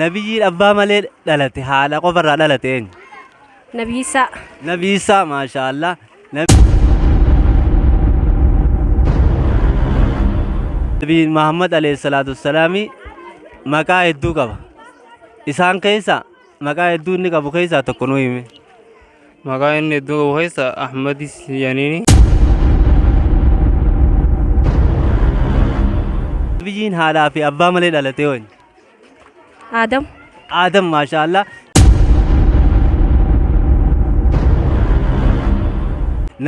Nabiyyiin abbaa malee dhalate haadha qofa irraa dhalate eenyu? Nabii Isaa. Nabii Isaa maashaallah. Nabii Muhammad alayhi salaatu wassalaami maqaa hedduu qaba. Isaan keessa Maqaa hedduu inni qabu keessaa tokko nu himi. Maqaa inni hedduu qabu keessaa Ahmadis Yaniini. Biyyiin haadhaa fi abbaa malee dhalatee hooni. Aadam. Aadam maashaallah.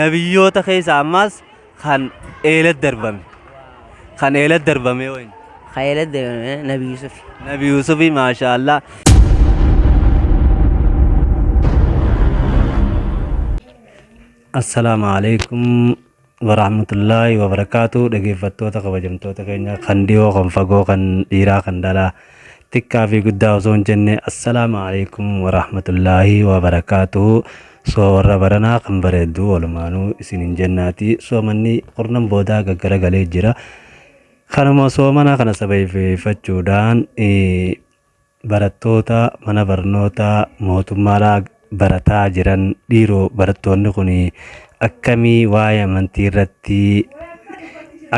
Nabiyyoota keessaa ammaas kan eelat darbame kan eelat darbame wayne kan eelat darbame nabi yusuf nabi yusuf maasha allah Assalaamu alaikum warahmatullaahi wabarakaatu dhaggeeffattoota kabajamtoota keenya kan dhiyoo kan fagoo kan dhiiraa kan dhalaa xiqqaa fi guddaa osoo hin jenne assalaamu alaikum warahmatullaahi wabarakaatuhu soo warra baranaa kan bareeddu walumaanuu isin hin jennaati soomanni kurnan boodaa gaggara galee jira kanuma soomana kana sababeeffachuudhaan barattoota mana barnootaa mootummaadhaa barataa jiran dhiiroo barattoonni kun akkamii waa'ee amantii irratti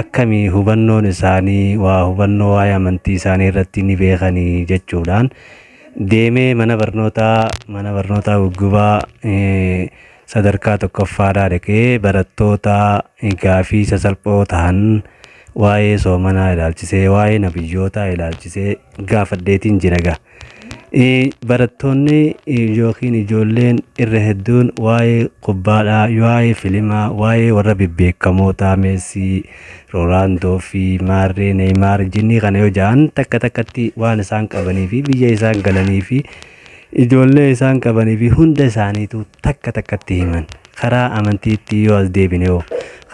akkamii hubannoon isaanii waa hubannoo waa'ee amantii isaanii irratti ni beekanii jechuudhaan deemee mana barnootaa mana barnootaa guggubaa eh, sadarkaa tokkoffaadhaa dhaqee barattoota eh, gaafii sasalphoo ta'an waa'ee soomanaa ilaalchisee waa'ee nabiyyootaa ilaalchisee gaafadheetiin jira gaa. Barattoonni yookiin ijoolleen irra hedduun waa'ee kubbaadhaa, waa'ee filimaa, waa'ee warra bebbeekamootaa Meessii, Roonaaldoo fi Maarree, Neeymaar, jinnii kana yoo ja'an takka takkatti waan isaan qabanii fi biyya isaan galanii fi ijoollee isaan qabanii fi hunda isaaniitu takka takkatti himan. Karaa amantiitti yoo as deebine hoo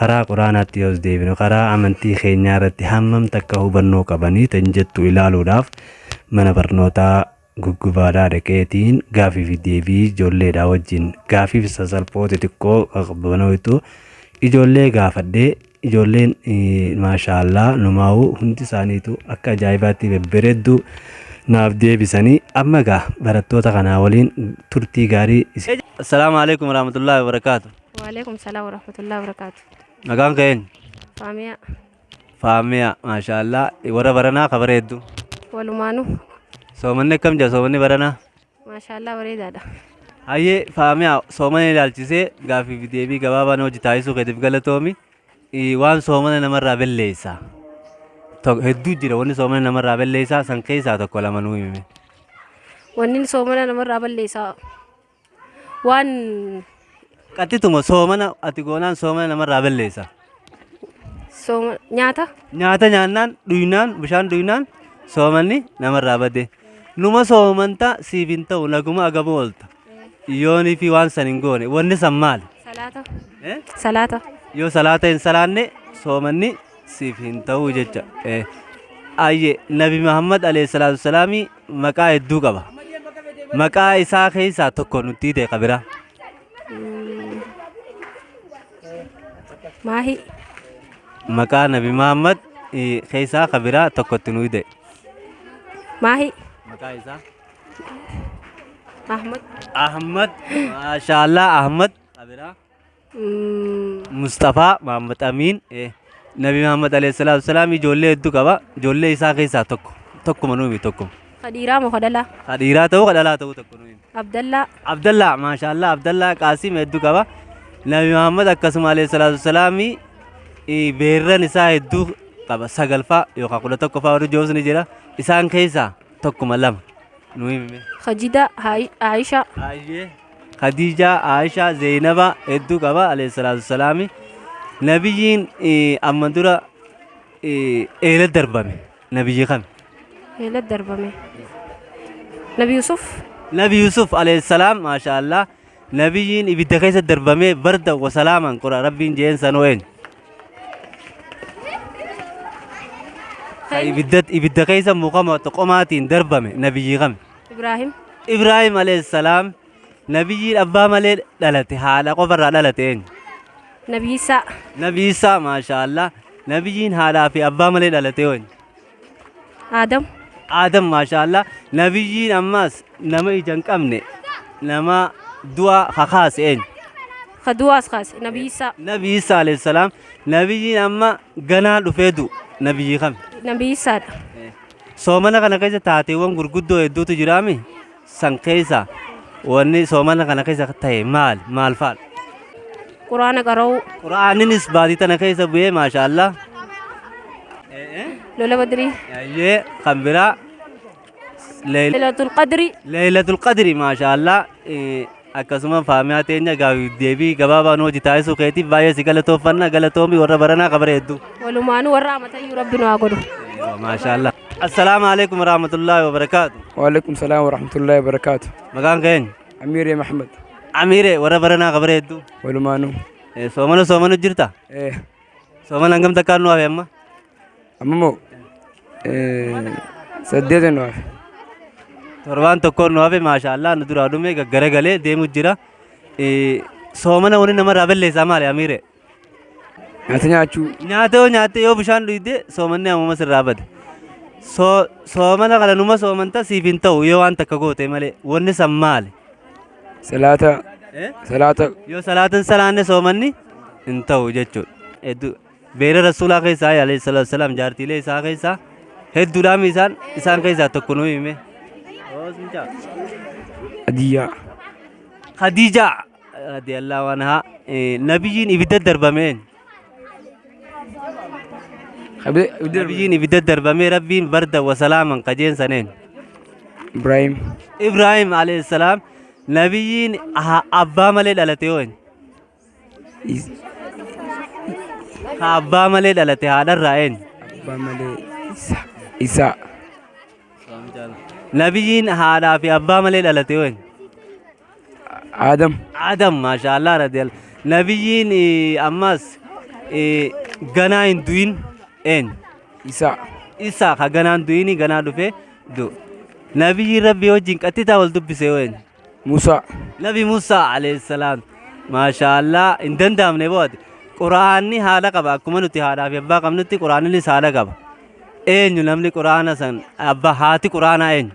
karaa quraanaatti yoo as deebine karaa amantii keenyaa irratti hammam takka hubannoo qabanii tan jettu ilaaluudhaaf mana barnootaa guggubaadhaa dhaqeetiin gaafii fi deebii ijoolleedhaa wajjin gaafii fi sasalphoo xixiqqoo qaqqabanoitu ijoollee gaafadhee ijoolleen maashaallaa numaa'u hundi isaaniitu akka ajaa'ibaatti bebbereedduu naaf deebisanii amma egaa barattoota kanaa waliin turtii gaarii isin. Assalaamu alaikum warahmatullahi wabarakaatu. Waalaikum salaam warahmatullahi wabarakaatu. Nagaan ka'een. Faamiyaa. Faamiyaa maashaallah warra baranaa ka bareeddu. Walumaanu. Soomanni akkam jira soomanni baranaa? Maashaallah bareedaadha. Hayyee Faamiyaa soomana ilaalchisee gaaffii fi deebii gabaabaa nu wajji taasisuu keetiif galatoomi. Ii, Waan soomana namarraa belleessa. Tokko hedduu jira wanni soomana namarraa belleessaa san keessaa tokko lama nuu himi. Wanni soomana namarraa balleessaa. waan Qaxxituma soomana ati goonaan soomana namarraa balleessa. sooma nyaata Nyaata nyaannaan dhuynaan bishaan dhuynaan soomanni namarraa bade. Numa soomanta siif hin ta'u naguma agama oolta. Yoonii fi waan san hin goone wanni san maali? salaata Eh? salaata Yoo salaata hin salaanne soomanni siif hin ta'u jecha. Eh. Ayyee Nabi Muhammad alayhi salaatu wasalaamii maqaa hedduu qaba. Maqaa isaa keessaa tokko nutti hidhee qabira. Maahi. Maqaa Nabi Muhammad eh, keessaa qabira tokko itti nu hidhee. Maahi. Maqaa isaa. Ahmad. Ahmad. Maashaallah Ahmad. Qabira. Musxafaa Mahammad Amiin eh, Nabi Mahammad alayhi salaatu wasalaam ijoollee hedduu qaba. Ijoollee isaa keessaa tokko. Tokkuma nuumi tokko. Khadiiraa moo Khadalaa? Ka dhiiraa ta'uu ka dhalaa ta'uu tokko nuumi. Abdallaa. Abdallaa maashaallah Abdallaa Qaasim hedduu qaba. Nabi Mahammad akkasuma alayhi salaatu wasalaam eh, beerran isaa hedduu qaba. Sagalfaa yookaan kudha tokkoffaa warri joos ni jira. Isaan keessaa tokkuma lama. Nuumi. Khajidaa. Aayishaa. Aayee. Khadija, Aisha, Zainaba hedduu qaba alayhi salatu wassalami. Nabiyyiin eh, amma dura eh, eela darbame. Nabiyyi kami? Eela darbame. Nabi Yusuf. Nabi Yusuf alayhi salam masha Allah. Nabiyyiin ibidda keessa darbame barda wa salaaman qura rabbiin jeen sanoo eenyu. Ka ibidda ibidda keessa mukama toqomaatiin darbame nabiyyi kami? Ibraahim. Ibraahim alayhissalaam nabiyyiin abbaa malee dhalate haadha qofarraa dhalate eenyu? Nabi Iisaa. Nabi Iisaa maashaallah nabiyyiin haadhaa fi abbaa malee dhalate eenyu? Aadam. Aadam maashaallah nabiyyiin ammaas nama ija hin qabne nama du'a kakaase eenyu? Ka du'aas kaase. Nabi Iisaa. Nabi Iisaa alayhissalaam nabiyyiin amma ganaa dhufee du'u nabiyyii kami? Nabi Iisaadha. Soomana kana keessa taateewwan gurguddoo hedduutu jiraami. San keessa wanni soomana kana keessa ta'e maal maal faal? Quraana qara'uu. Quraaninis baatii tana keessa bu'ee maashaallah. Lola badrii. Ayyee kan biraa. Leeylatul qadri. Leeylatul qadri maashaallah. akkasuma faamiyaa teenya gaafiif deebii gabaabaa nu hojii taasisuu keetiif baay'ee si galatooffanna galatoomi warra baranaa ka bara hedduu. Walumaanuu warra amatayyuu rabbi nu haa godhu. Maashaallah. Assalaamu alaikum warahmatullaahi wabarakaatu. Waalaikum salaam warahmatullaahi wabarakaatu. Maqaan keenya? Amiiree Mahmad. Amiiree warra baranaa ka bara hedduu. Walumaanuu. Soomana soomana jirta? Eh. Sooman hangam takkaan nu hafe amma? Amma moo saddeetan nu hafe. Torbaan tokkoon nu hafe maashaallah nu duraa dhume gaggara galee deemu jira. Eh, Soomana wani namarraa balleessaa maali Amiire? Nyaata nyaachuu Nyaata yoo nyaatte yoo bishaan dhuyde soomanni ammuma sirraa bada. So- Soomana kana numa soomanta siif hin ta'u yoo waan takka goote malee wanni san maali? Salaata Eh? salaata Yoo salaata hin salaanne soomanni hin ta'u jechuudha. Hedduu beera rasuulaa keessaa alayhi salaatu salaam jaartiilee isaa keessaa hedduudhaan isaan isaan keessaa tokko nuu hime. adiyyaa Khadiijaa radiyallahu anhaa eh, nabiyyiin ibidda darbameen Nabiyyiin ibidda darbamee rabbiin barda wasalaaman kajeen saneen. Ibrahim. Ibrahim alayhi salaam nabiyyiin aha- abbaa malee dhalate yoo inni. Is- Ka abbaa malee dhalate haadharraa eenyu. Abbaa malee Isa. Isa. Nabiyyiin haadhaa fi abbaa malee dhalate yoo inni. Adam. Adam maashaallah radiyallahu nabiyyiin eh, ammas eh, ganaa hin du'in eenyu Isa. isa ka ganaa hin du'ini ganaa dhufe du nabiyyiin rabbii wajjin qaxxitaa wal dubbise yoo eenyu Musa. nabi Musaa alayhi salaam maashaallah hin danda'amne boote quraanni haala qaba akkuma nuti haadhaa fi abbaa qabnutti quraannis haala qaba eenyu namni quraana san abbaa haati quraanaa eenyu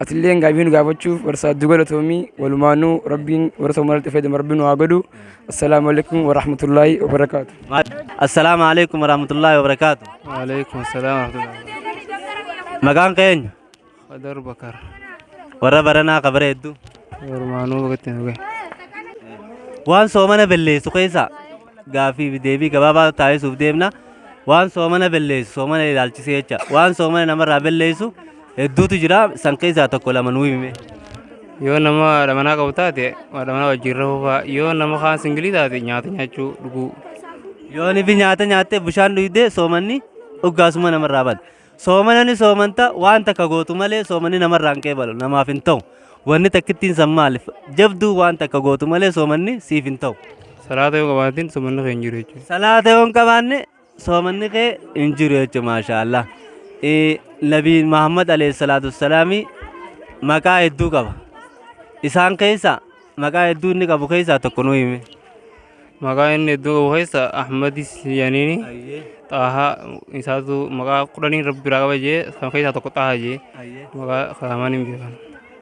Atilleen gaafii nu gaafachuuf barsaaddu galatoomii walumaanuu rabbiin warra soomaalatti fayyadama rabbiin nu haa godhu. Assalaamu alaikum wa rahmatullaahi wa barakaatu. Assalaamu alaikum wa rahmatullaahi wa barakaatu. Waalaikum salaam warahmatullahi. Maqaan keenya Qadar Bakar. warra baranaa ka bareeddu. Walumaanuu bakka itti nu gahe. Waan soomana belleessu keessaa gaaffii fi deebii gabaabaa taasisuuf deemna. Waan soomana belleessu soomana ilaalchisee jecha waan soomana namarraa belleessu hedduutu jira san keessaa tokko lama nuu hime. Yoo nama haadha manaa qabu taate haadha manaa wajjin rahuu fa'a. Yoo nama kaan singilii taate nyaata nyaachuu dhuguu. Yoon fi nyaata nyaattee bishaan dhugdee soomanni dhuggaasuma namarraa bada. Soomana ni soomanta waan takka gootu malee soomanni namarraa hin qeebalu namaaf hin ta'u. Wanni takkittiin san maaliif jabduu waan takka gootu malee soomanni siif hin ta'u. Salaata yoo qabaatin soomanni kee hin jiru jechuudha. Salaata yoo hin qabaanne soomanni kee hin jiru jechuudha maashaa Allah. Nabiin Muhammad alayhi salaatu wassalaami maqaa hedduu qaba. Isaan keessa maqaa hedduu inni qabu keessaa tokko nu hime. Maqaa inni hedduu qabu keessa Ahmadis jedhaniini Xaahaa isaatu maqaa kudhaniin rabbi biraa qaba jee kan keessaa tokko Xaahaa jee maqaa kaamaan hin beekan.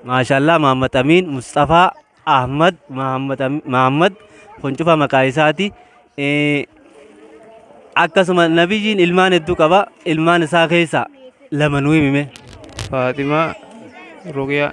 Maashaallah Mahammad Amiin Musxafaa Ahmad Mahammad Ami- Mahammad kun cufa maqaa isaati. Eh, Akkasuma nabiyyiin ilmaan hedduu qaba ilmaan isaa keessaa lama nuu himime. Faatimaa Ruqiyaa.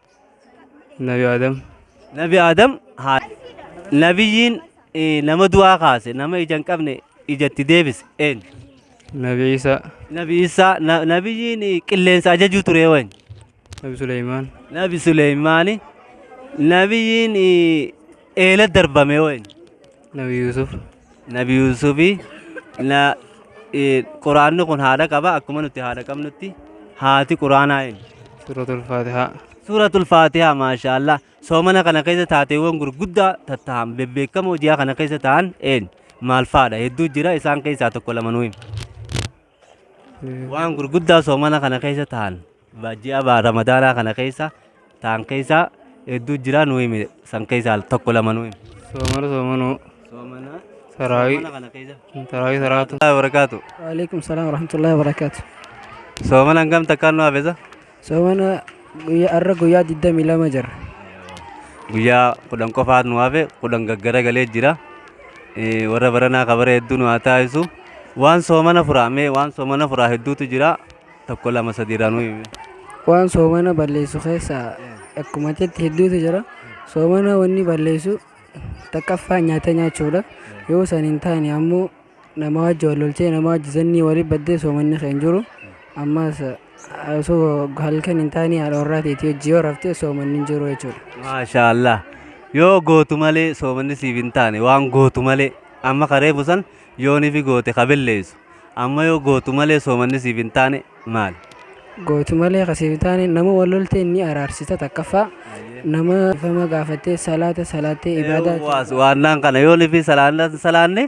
Nabi Adam. Nabi Adam haa Nabiyyiin eh, nama du'aa kaase nama ija hin qabne ijatti deebise eenyu? Nabi Isa. Nabi Isaa na- nabiyyiin eh, qilleensa ajajuu ture eenyu? Nabi Suleyman. Nabi Suleymaani nabiyyiin eh, eela darbame eenyu? Nabi Yusuf. Nabi Yuusufi na eh, Quraanni kun haadha qaba akkuma nuti haadha qabnutti haati Quraanaa eenyu? Suuratul Faatihaa. Suuratul Faatihaa maashaallah soomana kana keessa taateewwan gurguddaa tattahan bebbeekamoo ji'a kana keessa ta'an eenyu? Maal faadha? Hedduu jira isaan keessaa tokko lama nuu himi. Waan gurguddaa soomana kana keessa ta'an ji'a ramadaanaa kana keessa ta'an keessaa hedduu jira nu himi san keessaa tokko lama nu himi. Soomana soomanuu. Soomana Taraawii. soomana kana keessa. Taraawii taraatu. Barakaatu. Waalaikum salam warahmatullahi wabarakatuh. Soomana hangam takkaan nu hafeessa? Soomana guyyaa har'a guyyaa 22 jira. Guyyaa kudhan qofaatu nu hafe kudhan gaggaragalee jira. Eh, Warra baranaa kabara hedduu nu haa taasisu. Waan soomana furaa mee waan soomana furaa hedduutu jira. Tokko lama sadiirraa nu himi. Waan soomana balleessu keessaa akkuma jetti hedduutu jira. Soomana wanni balleessu takkaffaa nyaata nyaachuudha. Yoo san hin taane ammoo nama wajji wal loltee nama wajji zannii wali baddee soomanni kee hin jiru ammaas osoo halkan hin taane haadha warraa teetii wajji yoo raftee soomanni hin jiru jechuudha. Maashaallah. Yoo gootu malee soomanni siif hin taane waan gootu malee amma kareefu san yoonifi goote kabelleessu amma yoo gootu malee soomanni siif hin taane maal. gootu malee ka siif taane nama wal lolteen ni araarsita takkaffaa nama dhiifama gaafattee salaata salaattee ibaadaa Eewwa, waannaan kana yoo lifi salaanna hin salaanne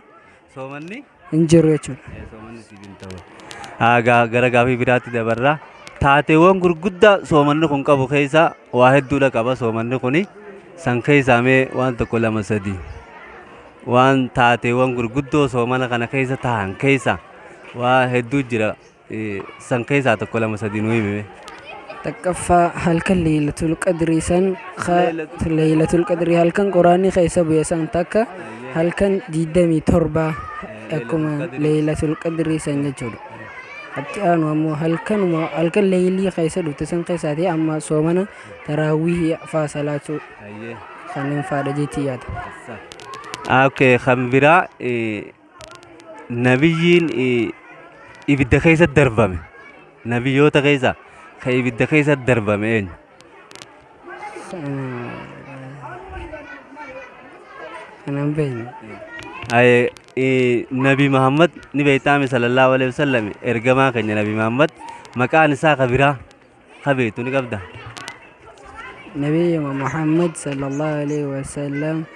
soomanni hin jiru jechuudha. eh, soomanni siif hin ta'u. Ah, gaa- Gara gaafii biraatti dabarra. Taateewwan gurguddaa soomanni kun qabu keessaa waa hedduudha qaba soomanni kuni. San keessaa mee waan tokko lama sadii. Waan taateewwan gurguddoo soomana kana keessa tahan keessa waa hedduu jira. san keessaa tokko lama sadi nu himime. Takkaffaa halkan leeylatul qadrii san ka leeylatul qadrii halkan quraanni keessa bu'e san takka halkan 27 akkuma leeylatul qadrii san jechuudha. Atti aanu ammoo halkanuma halkan leeylii keessa dhufte san keessaati amma soomana taraawwihii faa salaachuu Hayyee. kanneen faadha jeetii yaada. Ah, Okay, kan biraa eh, Nabiyyiin ibidda keessa darbame nabiyyoota keessa kan ibidda keessa darbame eenyu? Kanan beekne. Aye, eh, Nabi Muhammad ni beektaame sallallahu alaihi wasallam ergamaa keenya Nabi Muhammad maqaan isaa ka biraa ka beektu ni qabda. Nabiyyuma Muhammad sallallahu alaihi wasallam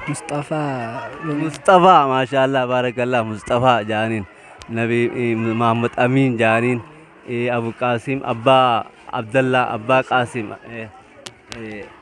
Musxafaa bin Musxafaa maashaallah baarakallah Musxafaa jaaniin nabi eh, Muhammad Amiin jaaniin eh, Abu Qaasim abbaa Abdallaa abbaa Qaasim eh, eh,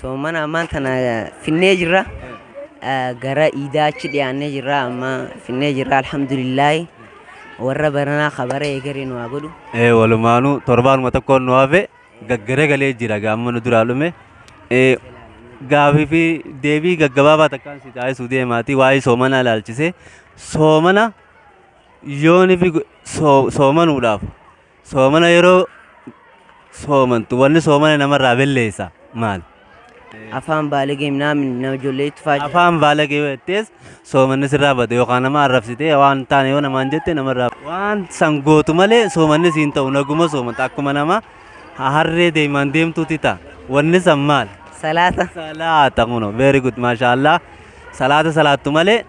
Soomana ammaan tana finnee jirra. Gara iidaa achi dhiyaannee jirra amma finnee jirra alhamdulillaahi. Warra baranaa ka bara eegale nu haa godhu. Eh, walumaanuu torbaanuma tokkoon nu hafe gaggaragalee jira gaamma nu duraa dhume. Eh, gaafii fi deebii gaggabaabaa takkaan si taasisuu deemaati waa'ee soomanaa ilaalchisee. Soomana yoonifi go- soo- soomanuudhaaf Soomana yeroo soomantu wanni soomana namarraa belleessa maal? Afaan baalagee minaamin nama ijoollee itti faajja. Afaan baalagee yoo jettees soomanni sirraa bada yookaan nama arrabsitee waan taane yoo namaan jette namarraa waan san gootu malee soomanni siin ta'u naguma soomanta akkuma nama harree deemaan deemtuuti ta'a. Wanni san maal? Salaata. Salaata kuno very good maashaallah salaata salaattu malee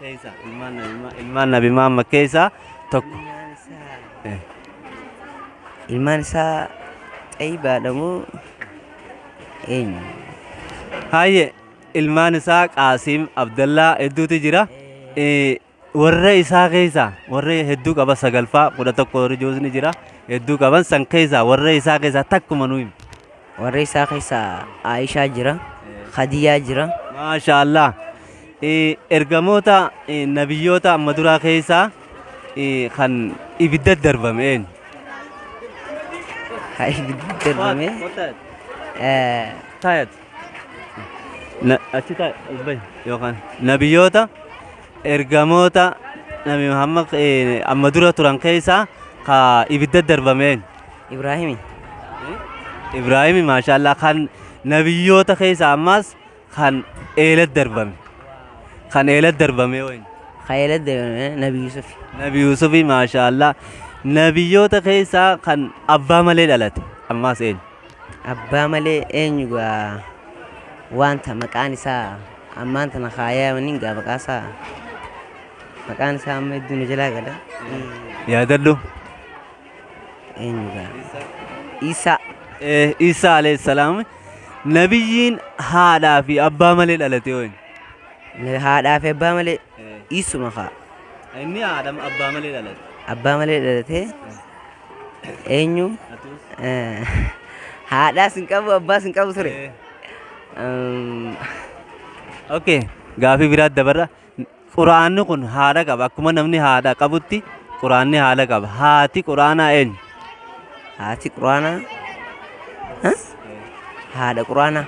Keessa ilmaan nabi Ma- ilmaan nabi Muhammad keessa tokko. Eh. Ilmaan isaa xayyibaadha moo eenyu? Haayye ilmaan isaa Qaasim Abdallaa hedduutu jira. Eh, Warra isaa keessa warra hedduu qaba sagalfaa kudha tokko warri joosni jira hedduu qaban san keessa warra isaa keessa takkuma nu himi. Warra isaa keessa Aishaa jira, Khadiyaa jira. Maashaallah. Eh, Ergamoota eh, nabiyyoota amma duraa keessaa eh, kan ibidda darbame eenyu? Ha ibiddi darbame. Eh, Taayat. Na, achi taa'e ubbay yookaan nabiyyoota ergamoota nabi Muhammad eh, amma dura turan keessaa ka ibidda darbame eenyu? Ibraahimi. Ibraahimi maashaallah kan nabiyyoota keessa ammaas kan eelat darbame. Kan eelat darbame wayni. Kayeela deemee Nabi Yusuf. Nabi Yusufi maashaallah nabiyyoota keessaa kan abbaa malee dhalate ammaas eenyu? Abbaa malee eenyu gaa wanta maqaan isaa ammaan tana kaayaa waniin gaa maqaa isaa maqaan isaa amma hedduu na jalaa gala. Yaadadhu. eenyu gaafata? Iisaa. Eh, Iisaa alayhi salaam nabiyyiin haadhaa fi abbaa malee dhalate yoo inni. Na- Haadhaa fi abbaa malee isuma kaa. Inni haadha abbaa malee dhalate. Abbaa malee dhalatee eenyu? Eh, Haadhaas hin qabu abbaas hin qabu ture. Eh. Um, Okay, gaafii biraatti dabarra. Qur'aanni kun haadha qaba. Akkuma namni haadha qabutti Qur'aanni haadha qaba. Haati Qur'aanaa eenyu? Haati Qur'aanaa ha? haadha Qur'aanaa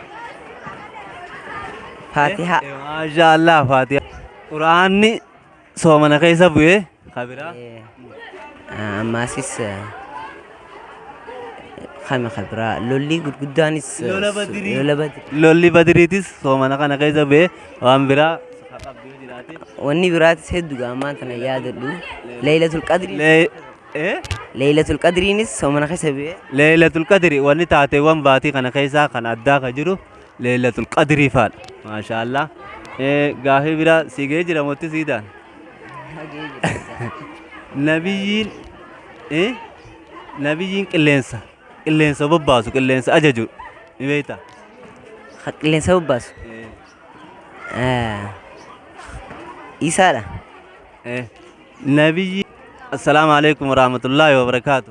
Faatihaa Maashaallah Faatihaa. Qur'aanni soomana keessa bu'ee Kabira. Ammaasis kami kabira lolli gurguddaanis Lola Badrii. lola Badrii. Lolli badiriitis soomana kana keessa bee waan biraa qabdee jiraate. Wanni biraatis hedduudha ammaan tana yaadadhu. Leeylatul qadrii. Lee- eh? Leeylatul qadriinis soomana keessa bee. Leeylatul qadri wanni taateewwan baatii kana keessaa kan addaa ka jiru leeylatul qadrii faadha. Maashaallah. Eh, Gaafii biraa siigee jira motti siidaan. Nabiyyiin eh, nabiyyiin qilleensa qilleensa bobbaasu qilleensa ajaju ni beekta. Ka qilleensa bobbaasu. Eh, Isaadha. Eh, nabiyyi assalaamu alaikum warahmatullahi wabarakaatu.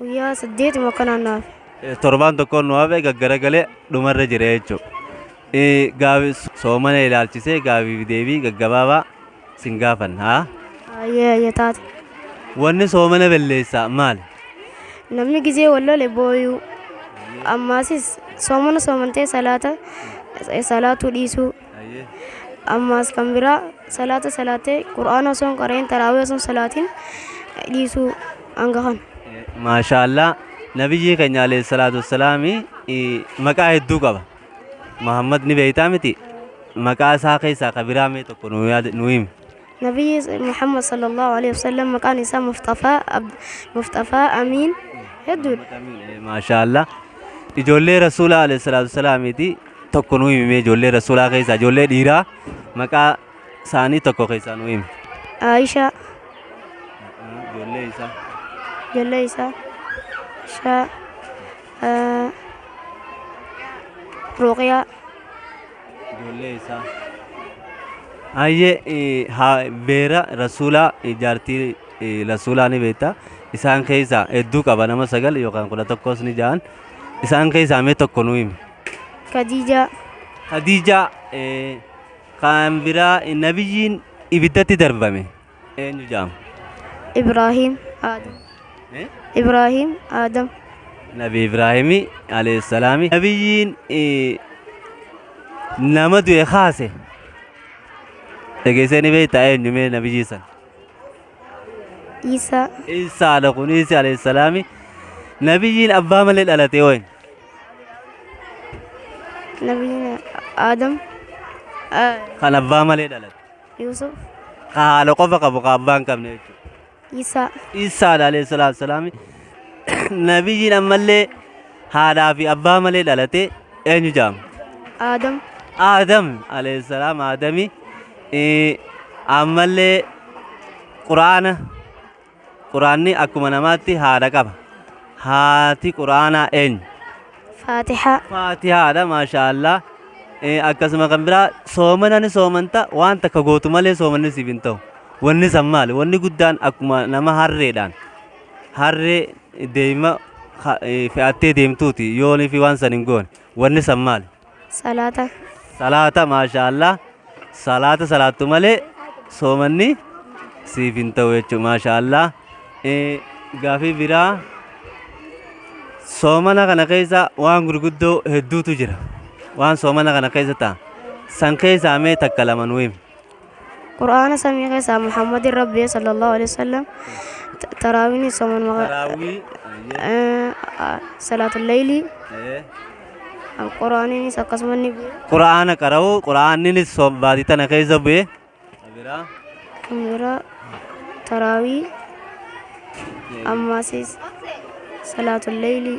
Guyyaa saddeet immoo akka naanna'aaf. Eh, Torbaan tokkoon nu hafe gaggaragalee dhumarra jira jechuudha. Eh, Gaafi soomana ilaalchisee gaafii fi deebii gaggabaabaa sin gaafan haa. Ayyee ayyee taate. Wanni soomana balleessaa maali? Namni gizee wal lole booyuu. Ammaasis soomana soomantee salaata salaatuu dhiisuu. Ayyee. ammaas kan biraa salaata salaatee qur'aana osoo hin qara'in taraawee osoo hin salaatin dhiisuu hanga kana. maashaallah nabiyyii keenya alayhi salaatu wassalaami eh, maqaa hedduu qaba muhammad ni beeytaa miti maqaa isaa keessaa ka biraa mee tokko nuu yaad- nuu himi Nabiyyi Muhammad sallallahu alaihi wasallam maqaan isaa Mustafaa Ab- Mustafaa Amiin hedduudha. Maashaallah. Ijoollee Rasuulaa alayhi salaatu wasalaamiiti tokko nu himee ijoollee Rasuulaa keessaa ijoollee dhiiraa maqaa isaanii tokko keessaa nu himi. Aisha Ijoollee isaa. ijoollee isaa Aisha ah, Ruqiyaa ijoollee isaa Ayyee eh, haa- beera rasuulaa eh, jaartii eh, rasuulaa ni beekta isaan keessaa hedduu qaba nama sagal yookaan kudha tokkos ni ja'an isaan keessaa mee tokko nu himi Khadijaa. Khadiijaa eh, kan biraa eh, nabiyyiin ibiddatti darbame eenyu jedhama? Ibraahiim Aadam. Eh? Ibraahiim Aadam. Nabi Ibraahimi alayhi salaami. Nabiyyiin eh, nama du'e kaase. Dhageessee ni beektaa eenyu mee nabiyyii san? Iisaa. Iisaa ala kun Iisi alayhi salaami. Nabiyyiin abbaa malee dhalate hoo eenyu? Nabiin Aadam. Ah, Kan abbaa malee dhalate. Yuusuf. Ka haala qofa qabu ka abbaa hin qabne jechuudha. Isaa. Isaa alayhi salaatu salaami. Nabiyyiin ammallee haadhaa fi abbaa malee dhalate eenyu jedhama? Aadam. Aadam alayhi salaam Aadami. Eh, Ammallee Quraana Qur'aanni akkuma namaatti haadha qaba. Haati Qur'aanaa eenyu? فاتحة Faatihaadha maashaallah. Eh, Akkasuma kan biraa soomana ni soomanta waan takka gootu malee soomanni siif hin ta'u. Wanni san maali? Wanni guddaan akkuma nama harreedhaan harree deema ha- eh, fe'attee deemtuuti yoonii fi waan san hin goone. Wanni san maali? Salaata. Salaata maashaa Allah salaata salaattu malee soomanni siif hin ta'u jechuudha maashaa Allah. Gaafii biraa soomana kana keessa waan gurguddoo hedduutu jira. Waan soomana kana keessa ta'a. San keessaa mee takka lama nu himi. Qur'aana samii keessaa Muhammadin Rabbii sallallahu alaihi wasallam ta- taraawiin sooman maqa Taraawii. salaatul leeylii Qur'aaniinis akkasuma ni bu'e. Qur'aana qara'u Qur'aanninis soom baatii tana keessa bu'e. Biraa. Kan biraa taraawii ammaasis salaatul leeylii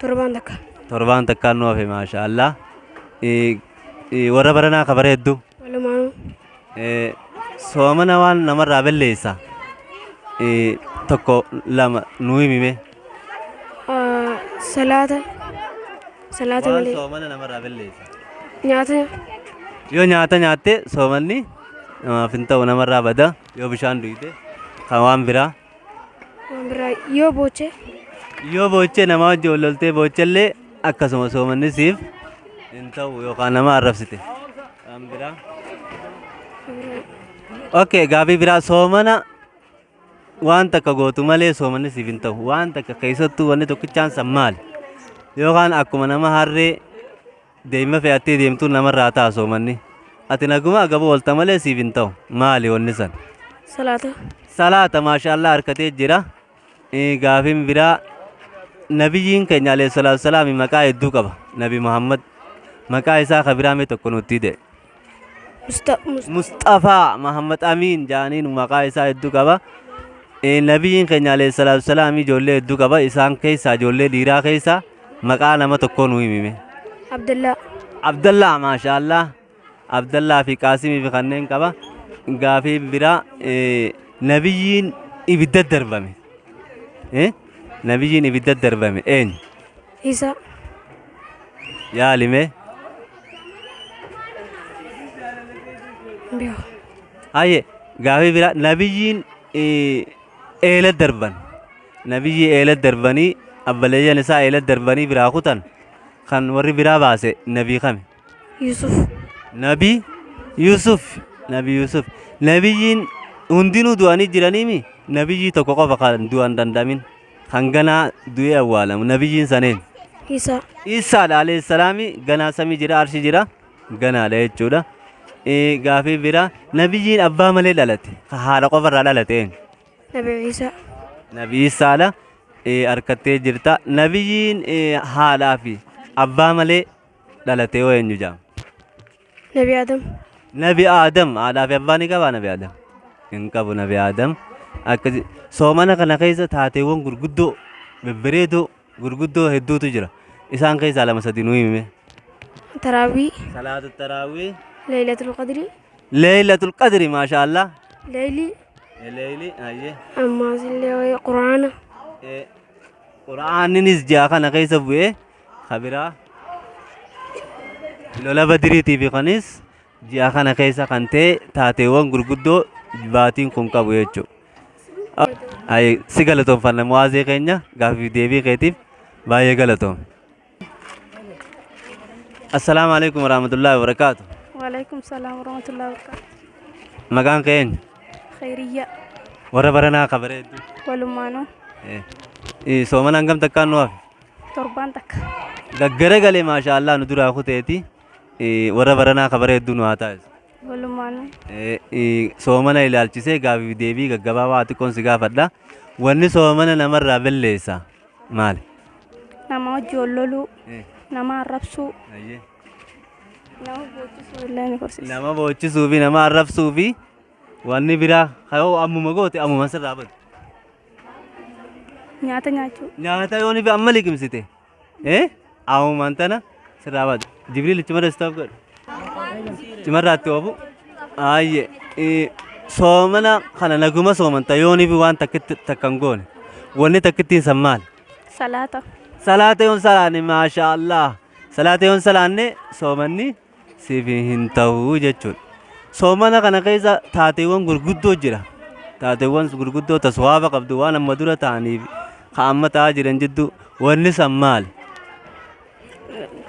Torbaan takka. Torbaan takkaan nu hafe maasha Allah. Eh, eh, Warra baranaa ka bara hedduu. Walumaanuu. Eh, Soomana waan namarraa balleessa. Eh, Tokko lama nu himime. Ah, Salaata. Salaata Waan malee. soomana namarraa balleessa. Nyaata. Yoo nyaata nyaatte soomanni namaaf hin ta'u namarraa bada. Yoo bishaan dhugde kan waan biraa. Waan biraa yoo boochee Yoo boochee namaa wajjin wal loltee boochellee akkasuma soomanni siif hin ta'u yookaan nama arrabsite. Waan biraa. Okay, gaaffii biraa soomana waan takka gootu malee soomanni siif hin ta'u. Waan takka keessattuu wanni tokkichaan san maali? Yookaan akkuma nama harree Daimma fe'attee deemtuun namarraa ta'a soomanni. Ati naguma agaba oolta malee siif hin ta'u. Maali wanni san? Salaata. Salaata maashaallah harkatee jira. Eh, Gaafin biraa nabiyyiin keenya alayhi salaatu salaami maqaa hedduu qaba. Nabi Muhammad maqaa isaa ka biraa mee tokko nutti hidhe. Musta- Musta- Musxafaa Mahammad Amiin jaaniin maqaa isaa hedduu qaba. Eh, Nabiyyiin keenya alayhi salaatu wasalaam ijoollee hedduu qaba. Isaan keessaa ijoollee dhiiraa keessaa maqaa nama tokkoo nu himime. Abdallaa. Abdallaa maashaallah. Abdallaa fi Qaasimii fi kanneen qaba. Gaafii biraa eh, nabiyyiin ibidda darbame. Eh? Nabiyyiin ibidda darbame eenyu? Isa. Yaali mee. Biyo. Haye gaafii biraa nabiyyiin eh, eela darban nabiyyii eela darbanii abbaleeyyan isaa eela darbanii biraa kutan kan warri biraa baase nabii kami. Yusuf. Nabi Yusuf. Nabi Yusuf. Nabiyyiin hundinuu du'anii jiraniimi nabiyyii tokko qofa kan du'an danda'amin kan ganaa du'ee awwaalamu nabiyyiin saneen. Isa. Isaadha alayhi salaami ganaa samii jira arshi jira ganaadha jechuudha. Eh, Gaafii bira nabiyyiin abbaa malee dhalate ka haadha qofarraa dhalate eenyu? Nabi Isa. Nabi Isaadha eh, harkattee jirta. Nabiyyiin eh, haadhaa fi abbaa malee dhalatee hoo eenyu jedhama? Nabi Adam. Nabi Adam haadhaa fi abbaa ni qabaa Nabi Adam? Hin qabu Nabi Adam. Akkasi soomana kana keessa taateewwan gurguddoo bebbereedoo gurguddoo hedduutu jira. Isaan keessaa lama sadi nuu himime. Taraawwii. Salaatu taraawwii. Leeylatul qadrii. Leeylatul qadri maashaa Allah. Leeylii. Leeyli hayyee. Ammaas illee quraana. Quraaninis ji'a kana keessa bu'ee kabiraa lola badiriitii fi kanis ji'a kana keessa kan ta'e taateewwan gurguddoo baatiin kun qabu jechuudha. Ayi, si galatoomfanna mu'aazee keenya gaaffiif deebii keetiif baay'ee galatoom. Assalaamu alaikum warahmatullahi wabarakaatu. Waalaikum salaam warahmatullahi wabarakatuh. Maqaan keenya Khairiyya warra baranaa kabareedduu. walumaanuu Eh, eh, soomana hangam takkaan nu hafe? Torbaan takka. Gaggara galee maashaa Allah nu duraa kuteeti Eh, warra baranaa ka bareedduu nu haa taasisu. Walumaanuu. Eh, eh, Soomana ilaalchisee gaafii fi deebii gaggabaabaa xiqqoon si gaafadha. Wanni soomana namarraa balleessa maali? Nama hojii ol loluu. Eh. Nama arrabsuu. Ayyee. Nama boochisuu illee ni gorsiisa. Nama boochisuu fi nama arrabsuu fi wanni biraa yoo ammuma goote ammuma sirraa badu. Nyaata nyaachuu. Nyaata yoo nifi amma liqimsite. Eh? Aawumaan tana sirraa baatu. Jibriil itti mara istaaf godhu. Cimarraatti oofu. Aayye. Eh, Soomana kana naguma soomanta yoo nifi waan takkitti takkan goone. Wanni takkittiin san maali? Salaata. Salaata yoon salaanne maashaa Allah. Salaata yoon salaanne soomanni siif hin ta'u jechuudha. Soomana kana keessa taateewwan gurguddoo jira. Taateewwan gurguddoo ta suwaaba qabdu waan amma dura ta'aniif ka amma ta'aa jiran jidduu wanni san maali?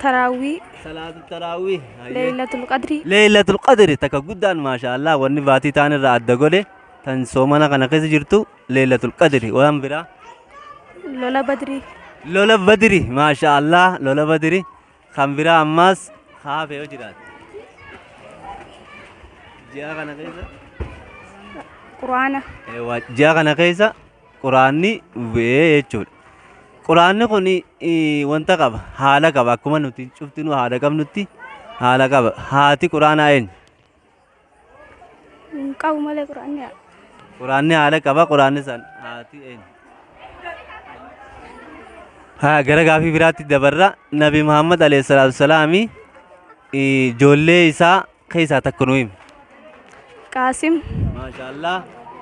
Taraawwii, Salaatu taraawwii. Leeylatul Qadrii. Leeylatul Qadri takka guddaan maashaallah wanni baatii ta'an irraa adda godhe tan soomana kana keessa jirtu Leeylatul Qadri waan biraa. Lola Badrii. Lola Badri maashaallah lola Badri Kan biraa ammaas haafe yoo jiraate. Ji'a kana keessa. Quraana. Eewwa, Ji'a kana keessa quraanni bu'ee jechuudha. Quraanni kun eh, wanta qaba haala qaba akkuma nuti cuftinuu haala qabnutti haala qaba. Haati quraanaa eenyu? Hin qabu malee quraanni haadha. Quraanni haadha qaba quraanni san haati eenyu? Haa gara gaafii biraatti dabarra Nabi Muhammad alayhi salaatu salaami ijoollee isaa keessaa takka nu himi. Qaasim. Maashaallah.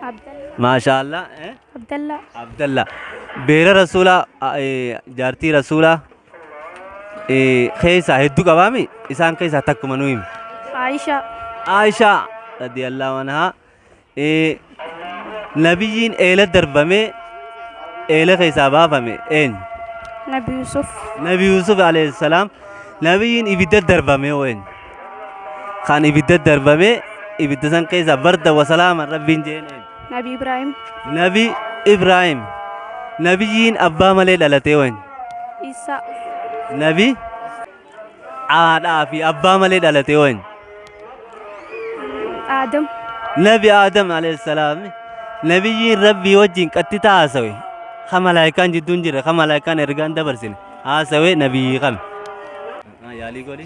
Abdallaa. Maashaallah. Eh? Abdallaa. Abdallah. Beera Rasuulaa eh, jaartii Rasuulaa keessaa hedduu qabaami isaan keessaa takkuma nu himi. Aisha. Aishaa radiyallahu anhaa nabiyyiin eela darbamee eela keessaa baafame eenyu? Nabi Yusuf. Nabi Yusuf alayhi salaam nabiyyiin ibidda darbame hoo eenyu? Kan ibidda darbame ibidda san keessaa barda wasalaama rabbiin jeen eenyu? Nabi Ibrahim. Nabi Ibrahim. Nabiyyiin abbaa malee dhalatee wany. Isa. Nabi haadhaa fi abbaa malee dhalatee wany. Adam. Nabi Adam alayhi salaam. Nabiyyiin Rabbii wajjin qattita haasawe. Ka malaayikaan jidduun jira, ka malaayikaan ergaan dabarsine. Haasawe nabiyyi kami. Yaalii godhi.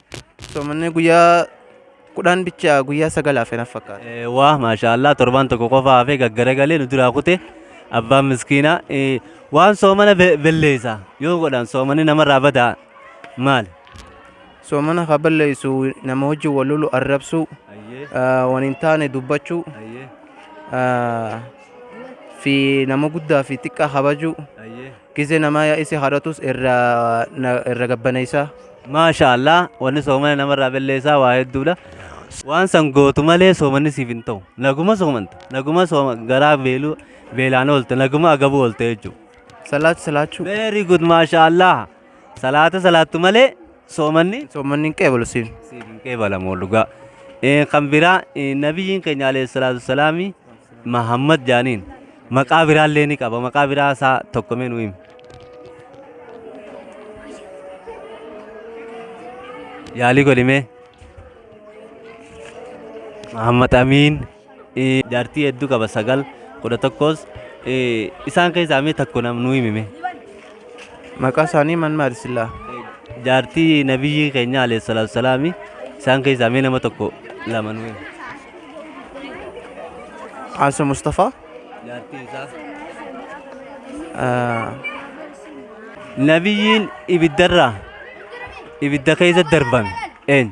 Soomanni guyyaa kudhan bicha guyyaa sagal hafe naf fakkaata. Eh, Waa maashaallah torbaan tokko qofa hafee gaggaragalee nu duraa kute abbaan miskiinaa eh, waan soomana be- belleessa yoo godhan soomani namarraa badaa maali? Soomana ka balleessu nama wajjin wal lolu arrabsuu, Ayyee, ah, waan hin taane dubbachuu, ayyee, ah, fi nama guddaa fi xiqqaa kabajuu, ayyee, Gize namaa ya isi kadhatus irra na irra gabbaneysaa. Maasha Allah wanni soomana namarraa belleessaa waa hedduudha. Waan san gootu malee soomanni siif hin ta'u. Naguma soomanta. Naguma sooma garaa beeluu beelaan oolte. Naguma agabuu oolte jechuudha. Salaat salaachuu. Very good maasha Allah. Salaata salaattu malee Soomanni Soomanni hin qeebalu siif. siif hin qeebalamu dhugaa. Eh, Kan biraa eh, nabiyyiin keenya alayhi salaatu wasalaami Mahammad jaaniin maqaa biraa illee ni qaba. Maqaa biraa isaa tokko mee nu himi. Yaalii godhi mee. Mahammad Amiin. Jaartii hedduu qaba sagal kudha tokkos isaan keessaa mee takko nam nuu himime. Maqaa isaanii man maali sillaa? Jaartii nabiyyii keenya alayhi salaatu salaami isaan keessaa mee nama tokko lama nuu himi. Aansa Mustafaa. Jaartii isaa. Nabiyyiin ibiddarraa ibidda keessa darbame eenyu?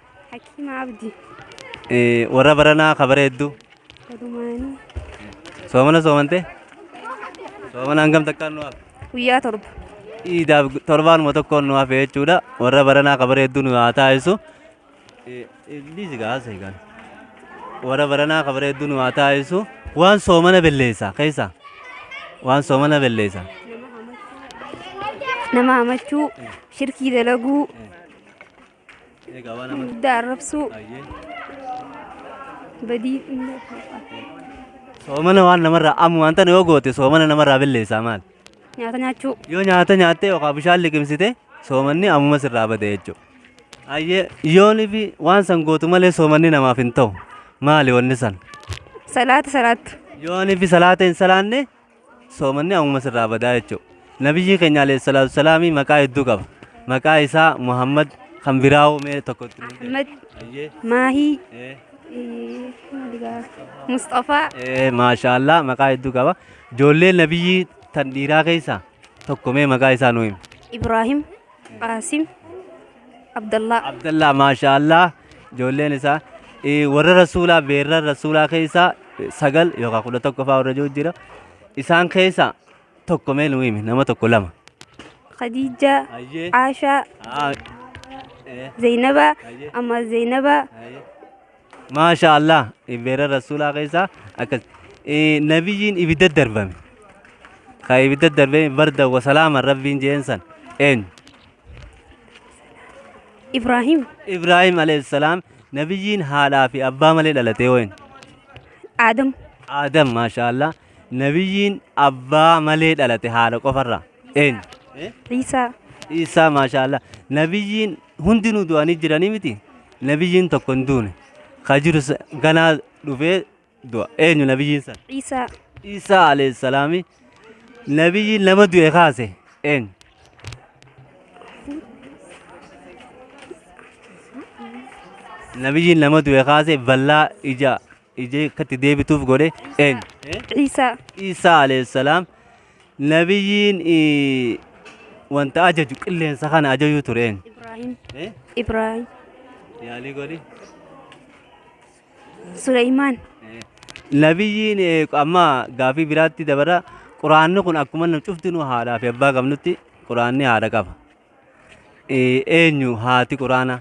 Hakiima Abdi. Warra baranaa ka bareeddu. Walumaanii. Soomana soomantee? Soomana hangam takkaan nu hafe? Guyyaa torba. Iidaaf torbaanuma tokkoon nu hafe jechuudha. Warra baranaa ka bareeddu nu haa taasisu. Dhiisi gaa haasa'e gaa. Warra baranaa ka bareeddu nu haa taasisu. Waan soomana belleessa keessa. Waan soomana belleessa. Nama hamachuu. Shirkii dalaguu. Egaa waan amma Guddaa arrabsuu baay'ee. badii inni Soomana waan namarraa amma wanta yoo goote soomana namarraa balleessaa maal? nyaata nyaachuu Yoo nyaata nyaattee yookaan bishaan liqimsite soomanni ammuma sirraa bade jechuudha. Ayyee yoonii fi waan san gootu malee soomanni namaaf hin ta'u. Maali wanni san? salaata salaattu Yoonii fi salaata hin salaanne soomanni ammuma sirraa badaa jechuudha. Nabiyyii keenya alayhi salaatu salaamii maqaa hedduu qaba. Maqaa isaa Muhammad kan biraa hoo mee tokko itti nuuf Ahmad, Ayyee. Maahii, Ee. eh, maali gaa? Musxafaa, Ee, maashaallah maqaa hedduu qaba. Ijoollee nabiyyii tan dhiiraa keessaa tokko mee maqaa isaa nuu himi. Ibraahim, Qaasim Abdallaa. Abdallaa maashaallah ijoolleen isaa eh, warra rasuulaa beerran rasuulaa keessaa eh, sagal yookaan kudha tokko fa'aa warra jiru jira isaan keessaa tokko mee nuu himi nama tokko lama. Khadiijaa. Ayyee. Aashaa. Ah, eh, Zaynabaa. Ayyee. Amma Zaynabaa. ayyee. Maasha Allah ibbeera rasuulaa keessaa akkas nabiyyiin ibidda darbame ka ibidda darbame barda wasalaama rabbiin jeen san eenyu Ibrahim. Ibrahim alayhi salaam nabiyyiin haadhaa fi abbaa malee dhalatee wayin Adam. Adam maasha Allah nabiyyiin abbaa malee dhalate haadha qofarraa Eenyu? Iisaa. Iisaa maashaallah. Nabiyyiin hundinuu du'anii jiranii miti. Nabiyyiin tokko hin duune. Ka jiru sa- ganaa dhufee du'a. Eenyu nabiyyiin san? Iisaa. Iisaa alayhi salaami. Nabiyyiin nama du'e kaase. Eenyu? Nabiyyiin nama du'e kaase ballaa ija ija akkatti deebituuf godhe eenyu? Iisaa. Iisaa alayhi salaam. Nabiyyiin wanta ajaju qilleensa kana ajaju ture eenyu? Ibrahim. Eh? Ibrahim. Yaalii godhi. Suleyman. Eh, Nabiyyiin eh, amma gaafii biraatti dabara. Quraanni kun akkuma nu cufti nu haadhaa fi abbaa qabnutti quraanni haadha qaba. Ee, Eenyu haati Quraanaa?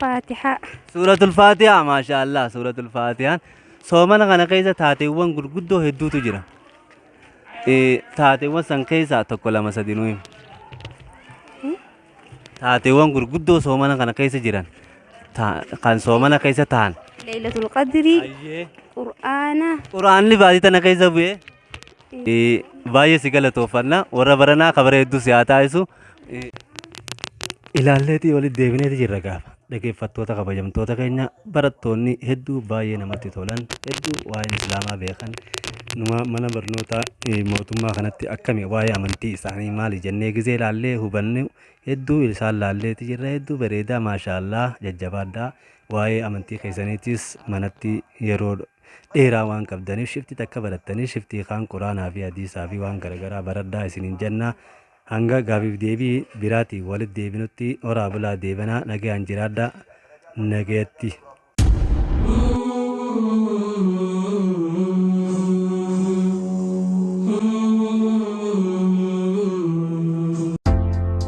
Faatihaa. Suuratul Faatihaa maashaallah suuratul Faatihaan soomana kana keessa taateewwan gurguddoo hedduutu jira. Ee, Taateewwan san keessaa tokko lama sadi nuyi. Taateewwan gurguddoo soomana kana keessa jiran ta- kan soomana keessa ta'an. Leeylatul Qadrii. Qur'aana. Quraanni baatii tana keessa bu'ee Baay'ee si galatooffanna. Warra baranaa kabaree hedduu si haa taasisu. Ilaalleetii walitti deebineeti jirra gaafa. Dhaggeeffattoota kabajamtoota keenya barattoonni hedduu baay'ee namatti tolan hedduu waa'ee islaamaa beekan numa mana barnoota mootummaa kanatti akkami waa'ee amantii isaanii maali jennee gisee ilaallee hubanne hedduu isaan laalleeti jirra hedduu bareedaa maashaallah jajjabaadhaa waa'ee amantii keessaniitis manatti yeroo dheeraa waan qabdaniif shifti takka barattanii shiftii kaan quraanaa fi hadiisaa fi waan garagaraa baradhaa isiniin jenna hanga gaafiif deebii biraatiin walit deebinutti horaa bulaa deebanaa nagayaan jiraadha nagayatti